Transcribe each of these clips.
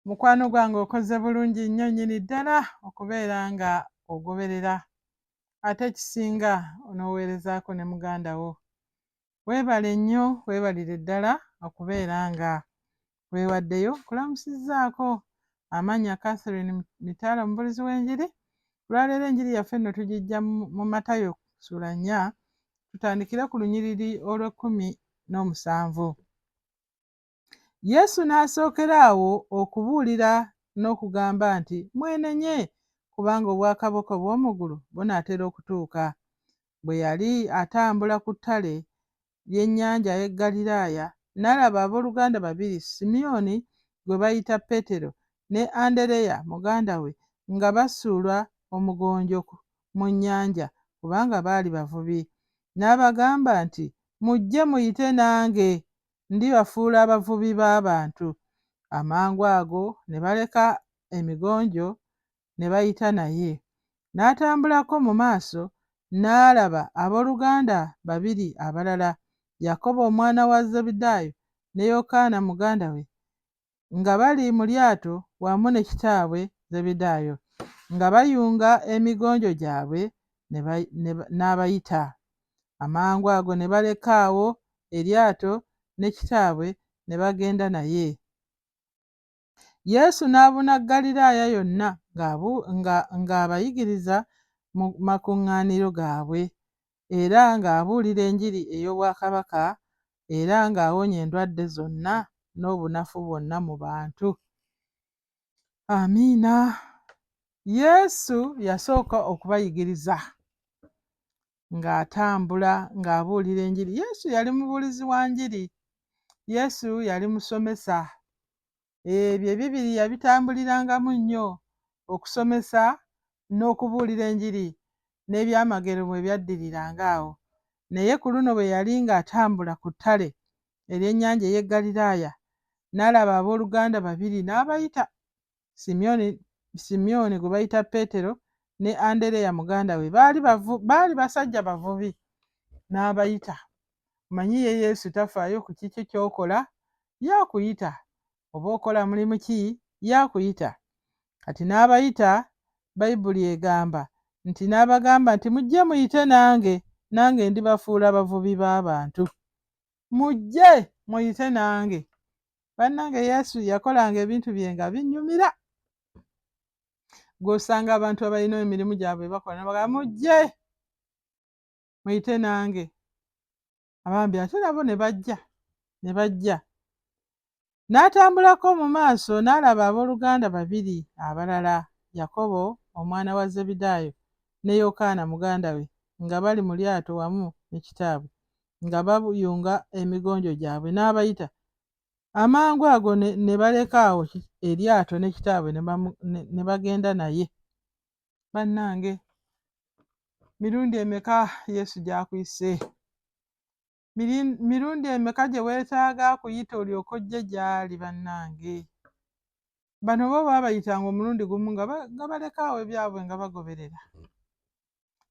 mukwano gwange okoze bulungi nnyo nyini ddala okubeera nga ogoberera ate ekisinga onooweerezaako ne muganda wo weebale nnyo weebalire ddala okubeera nga Weewaddeyo, nkulamusizzaako. Amannya Catherine Mitala, omubulizi w'enjiri. Olwaleero enjiri yaffe nno tugijja mu Matayo ssuula nnya, tutandikire ku lunyiriri olw'ekkumi n'omusanvu. Yesu n'asookera awo okubuulira n'okugamba nti, Mwenenye, kubanga obwakabaka obw'omu ggulu bunaatera okutuuka. Bwe yali atambula ku ttale, ly'ennyanja ay'e Galilaaya, n'alaba abooluganda babiri, Simyoni gwe bayita Petero, ne Andereya muganda we, nga basuula omugonjo mu nnyanja, kubanga baali bavubi. N'abagamba nti, Mujje muyite nange, ndibafuula abavubi b'abantu. Amangu ago ne baleka emigonjo ne bayita naye. N'atambulako mu maaso n'alaba ab'oluganda babiri abalala, Yakobo omwana wa Zebedaayo ne Yokaana muganda we, nga bali mu lyato wamu ne kitaabwe Zebedaayo, nga bayunga emigonjo gyabwe, n'abayita. Amangu ago ne baleka awo eryato ne kitaabwe ne bagenda naye. Yesu n'abuna Ggaliraaya yonna ng'abayigiriza mu makuŋŋaaniro gaabwe era ng'abuulira enjiri ey'Obwakabaka era ng'awonya endwadde zonna n'obunafu bwonna mu bantu. Amiina. Yesu yasooka okubayigiriza. ng'atambula ng'abuulira enjiri. Yesu yali mubuulizi wa njiri. Yesu yali musomesa. Ebyo ebibiri yabitambulirangamu nnyo okusomesa n'okubuulira enjiri n'ebyamagero bwe byaddiriranga awo. Naye ku luno bwe yali ng'atambula ku ttale ery'ennyanja ey'e Ggaliraaya, n'alaba abooluganda babiri n'abayita. Simyoni, Simyoni gwe bayita Peetero ne Andereya muganda we baali bavu, baali basajja bavubi n'abayita. Manyi ye Yesu tafaayo ku kiki ky'okola, yakuyita. Oba okola mulimu ki, yakuyita. Kati n'abayita, Bayibuli egamba nti n'abagamba nti mujje muyite nange, nange ndibafuula abavubi b'abantu. Mujje muyite nange. bannange yesu yakolanga ebintu bye nga binyumira gwosanga abantu abalina emirimu gyabwe bakola nabaga mujje muyite nange abambi ate nabo ne bajja ne bajja n'atambulako mu maaso n'alaba abooluganda babiri abalala yakobo omwana wa zebidaayo ne yokaana muganda we nga bali mu lyato wamu ne kitaabwe nga bayunga emigonjo gyabwe n'abayita amangu ago ne baleka awo eryato ne kitaabwe ne bagenda naye bannange mirundi emeka yesu gy'akuyise mirundi emeka gye weetaaga akuyita olyoka ojje gy'ali bannange bano bo baabayitanga omulundi gumu nga baleka awo ebyabwe nga bagoberera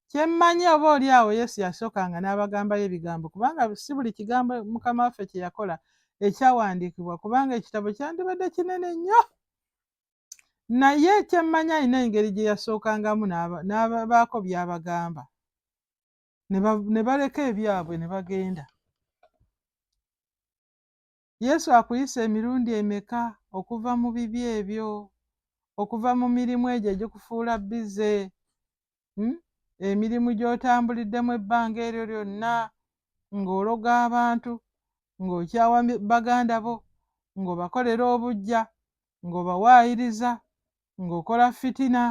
Kye mmanyi oba oli awo Yesu yasookanga n'abagambayo ebigambo kubanga si buli kigambo Mukama waffe kye yakola ekyawandiikibwa kubanga ekitabo kyandibadde kinene nnyo. Naye kye mmanyi alina engeri gye yasookangamu n'abaako by'abagamba ne baleka ebyabwe ne bagenda. Yesu akuyise emirundi emeka okuva mu bibi ebyo, okuva mu mirimu egyo egikufuula bize, hmm? emirimu gy'otambuliddemu ebbanga eryo lyonna ng'ologa abantu, ng'okyawa baganda bo, ng'obakolera obujja, ng'obawaayiriza, ng'okola fitina,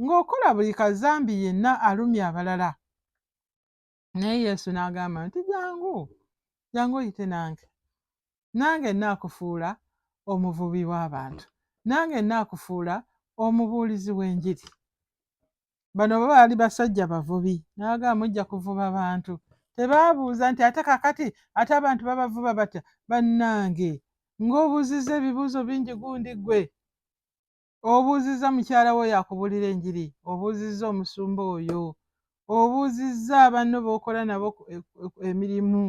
ng'okola buli kazambi yenna alumya abalala. Naye Yesu n'agamba nti, Jangu, jangu oyite nange. Nange nnaakufuula omuvubi w'abantu. Nange nnaakufuula omubuulizi w'enjiri. Bano baali basajja bavubi. N'agamba mujja kuvuba bantu. Tebaabuuza nti ate kakati ate abantu babavuba batya? Bannange, ng'obuuzizza ebibuuzo bingi gundi gwe. obuuzizza mukyala wo yakubuulira enjiri obuuzizza omusumba oyo obuuzizza abanno b'okola nabo emirimu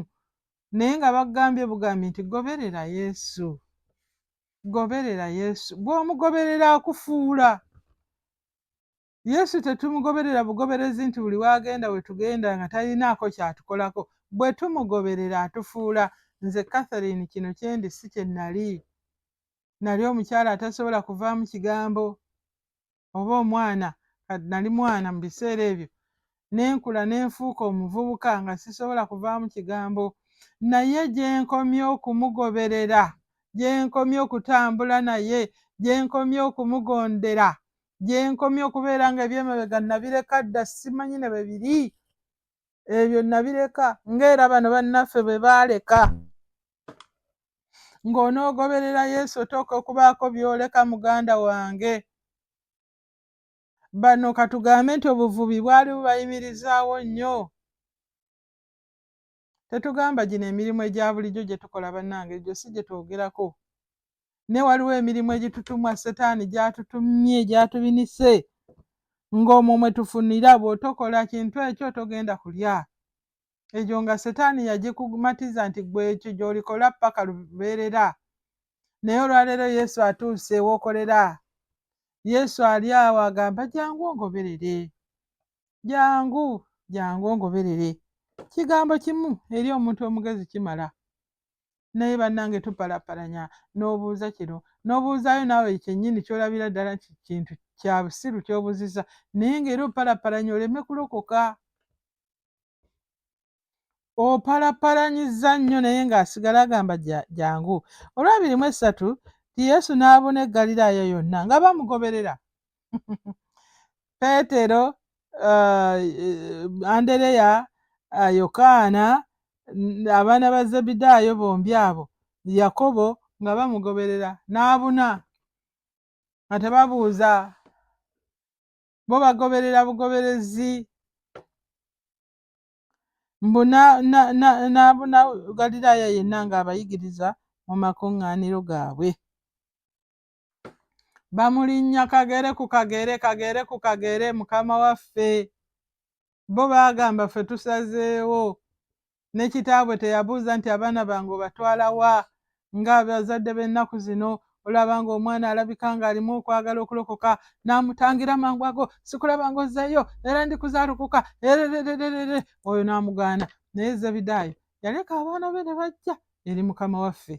naye nga bagambye bugambi nti goberera yesu goberera yesu gwomugoberera akufuula Yesu tetumugoberera bugoberezi nti buli w'agenda we tugenda nga talinaako ky'atukolako. Bwe tumugoberera atufuula. Nze Catherine kino kye ndi si kye nnali. Nnali omukyala atasobola kuvaamu kigambo oba omwana, nnali mwana mu biseera ebyo, ne nkula ne nfuuka omuvubuka nga sisobola kuvaamu kigambo. Naye gye nkomye okumugoberera, gye nkomye okutambula naye, gye nkomye okumugondera, gyenkomye okubeera nga ebyemabega nabireka dda simanyi ne bwe biri ebyo nabireka ngaera bano bannaffe bwe baaleka ng'onoogoberera yesu otooka okubaako byoleka muganda wange bano katugambe nti obuvubi bwali bubayimirizaawo nnyo Tetugamba gino emirimu egya bulijjo gye tukola bannange, egyo si gye twogerako. Naye waliwo emirimu egitutumwa setaani gy'atutumye gy'atubinise ng'omwo mwe tufunira bw'otokola kintu ekyo togenda kulya. Egyo nga setaani yagikumatiza nti gwe ekyo gy'olikola ppaka lubeerera. Naye olwaleero Yesu atuuse w'okolera. Yesu ali awo agamba jangu ongoberere. jangu jangu ongoberere kigambo kimu eri omuntu omugezi kimala naye bannange tupalapalanya n'obuuza kino n'obuuzaayo naawe kyennyini kyolabira ddala nti kintu kya busiru kyobuziza naye ngaera opalapalanya oleme kulokoka opalapalanyiza nnyo naye ng'asigala agamba jangu olwabiri mu essatu ti yesu n'abuna eggaliraayo yonna nga bamugoberera peetero uh, andereya uh, yokaana abaana ba zebidaayo bombi abo yakobo nga bamugoberera n'abuna nga tebabuuza bo bagoberera bugoberezi mbu n'abuna galiraaya yenna ng'abayigiriza mu makuŋŋaaniro gaabwe bamulinnya kagere ku kagere kagere ku kagere mukama waffe bo baagamba ffe tusazeewo ne kitaabwe teyabuuza nti abaana bange obatwala wa nga abazadde b'ennaku zino olaba nga omwana alabika ng'alimu okwagala okulokoka n'amutangira mangu ago sikulaba nga ozzeeyo era ndikuzaalokoka ererererere oyo n'amugaana naye zebidaayo yaleka abaana be ne bajja eri mukama waffe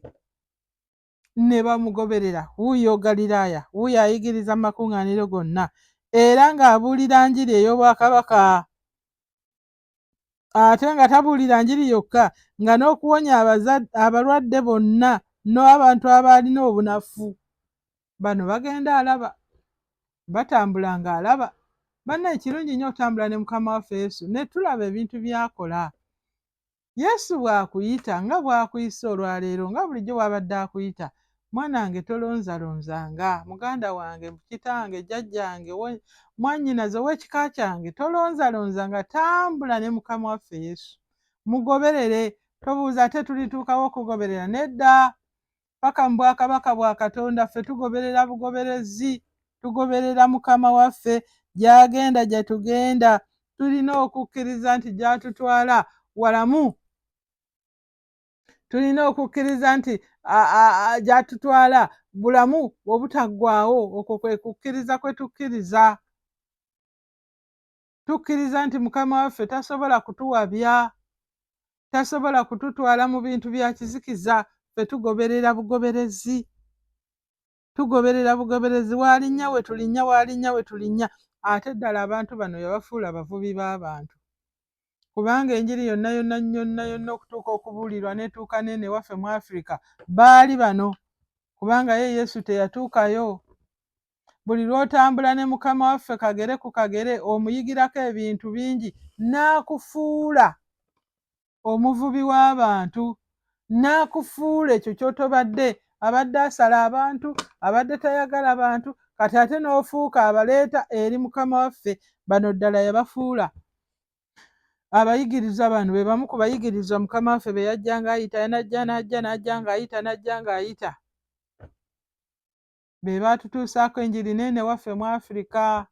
ne bamugoberera, wuuyo Galilaaya, wuuyo ayigiriza mu makuŋŋaaniro gonna, era ng'abuulira njiri ey'obwakabaka. Ate nga tabuulira njiri yokka, nga n'okuwonya abalwadde bonna n'abantu abaalina obunafu. Bano bagenda alaba, batambula ng'alaba. Banna ekirungi nnyo okutambula ne mukama waffe Yesu ne tulaba ebintu by'akola. Yesu bw'akuyita nga bw'akuyise olwaleero nga bulijjo bw'abadde akuyita mwanange tolonzalonzanga muganda wange kitange jjajjange mwannyinaze ow'ekika kyange tolonzalonzanga tambula ne mukama waffe yesu mugoberere tobuuza ate tulituukawo okugoberera nedda paka mu bwakabaka bwa katonda ffe tugoberera bugoberezi tugoberera mukama waffe gyagenda gyetugenda tulina okukkiriza nti gyatutwala walamu tulina okukkiriza nti gyatutwala bulamu obutaggwawo okwo kwe kukkiriza kwe tukkiriza tukkiriza nti mukama waffe tasobola kutuwabya tasobola kututwala mu bintu bya kizikiza fe tugoberera bugoberezi tugoberera bugoberezi walinnya we tulinnya walinnya we tulinnya ate ddala abantu bano yabafuula abavubi b'abantu kubanga enjiri yonna yonna yonna yonna okutuuka okubuulirwa netuuka neene waffe mu afirika baali bano kubanga ye yesu teyatuukayo buli lw'otambula ne mukama waffe kagere ku kagere omuyigirako ebintu bingi n'akufuula omuvubi w'abantu n'akufuula ekyo ky'otobadde abadde asala abantu abadde tayagala bantu kati ate n'ofuuka abaleeta eri mukama waffe bano ddala yabafuula abayigiriza bano be bamu ku bayigiriza mukama waffe be yajja ng'ayita yanajja n'ajja n'ajja ng'ayita n'ajja ng'ayita be baatutuusaako enjiri neene waffe mu afirika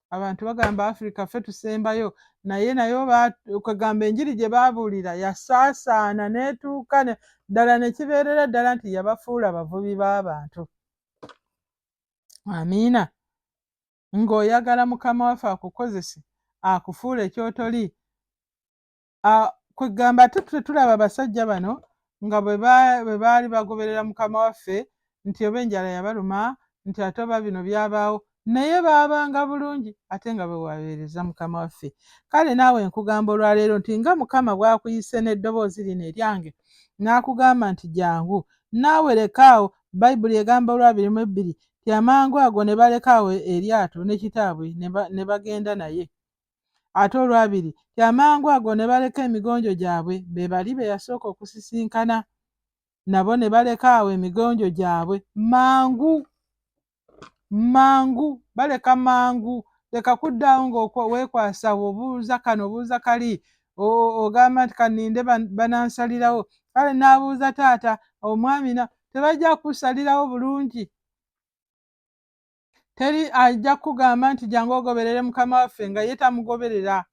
abantu bagamba afirika ffe tusembayo naye nayo kwegamba enjiri gye baabuulira yasaasaana n'etuuka ddala ne kibeerera ddala nti yabafuula abavubi b'abantu amiina ng'oyagala mukama waffe akukozese akufuule kyotoli kwegamba ate tetulaba abasajja bano nga bwe baali bagoberera mukama waffe nti oba enjala yabaluma nti ate oba bino byabaawo naye baabanga bulungi ate nga bwewabeereza mukama waffe kale naawe nkugamba olwaleero nti nga mukama bwakuyise n'eddoboozi lino eryange n'akugamba nti jangu naawe lekaawo bayibuli egamba olwabiri mu ebbiri ti amangu ago ne balekaawo eryato ne kitaabwe ne bagenda naye ate olwabiri nti amangu ago ne baleka emigonjo gyabwe be bali be yasooka okusisinkana nabo ne baleka awo emigonjo gyabwe mangu mangu baleka mangu leka kuddaawo ngaweekwasa obuuza kano obuuza kali ogamba nti kaninde banansalirawo kale n'abuuza taata omwami na tebajja kusalirawo bulungi teri ajja kugamba nti jangu ogoberere mukama waffe nga ye tamugoberera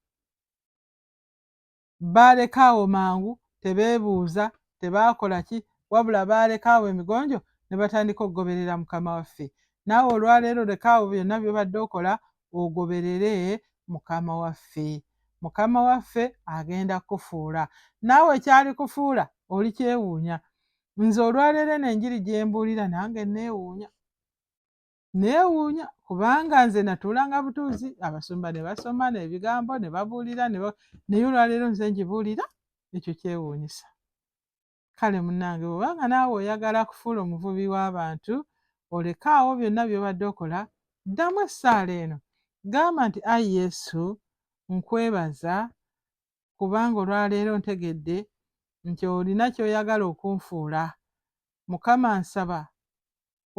baalekaawo mangu tebeebuuza tebaakola ki wabula baalekaawo emigonjo ne batandika okugoberera mukama waffe naawe olwaleero lekaawo byonna byobadde okola ogoberere mukama waffe mukama waffe agenda kukufuula naawe kyali kufuula oli kyewuunya nze olwaleero eno enjiri gyembuulira nange neewuunya neewuunya kubanga nze natuulanga butuuzi abasumba ne basoma n'ebigambo ne babuulira naye olwaleero nze ngibuulira ekyo kyewuunyisa kale munange bwobanga naawe oyagala kufuula omuvubi w'abantu olekaawo byonna byobadde okola ddamu essaala eno gamba nti ai yesu nkwebaza kubanga olwaleero ntegedde nti olina kyoyagala okunfuula mukama nsaba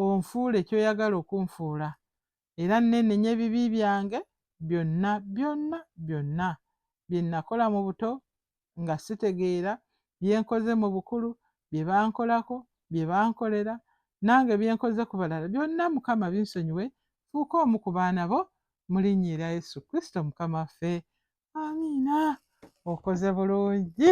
onfuule ky'oyagala okunfuula, era nneenenye ebibi byange byonna, byonna, byonna, bye nnakola mu buto nga sitegeera, bye nkoze mu bukulu, bye bankolako, bye bankolera, nange bye nkoze ku balala, byonna Mukama binsonyiwe, nfuuke omu ku baana bo, mu linnya erya Yesu Kristo Mukama waffe. Amiina. Okoze bulungi.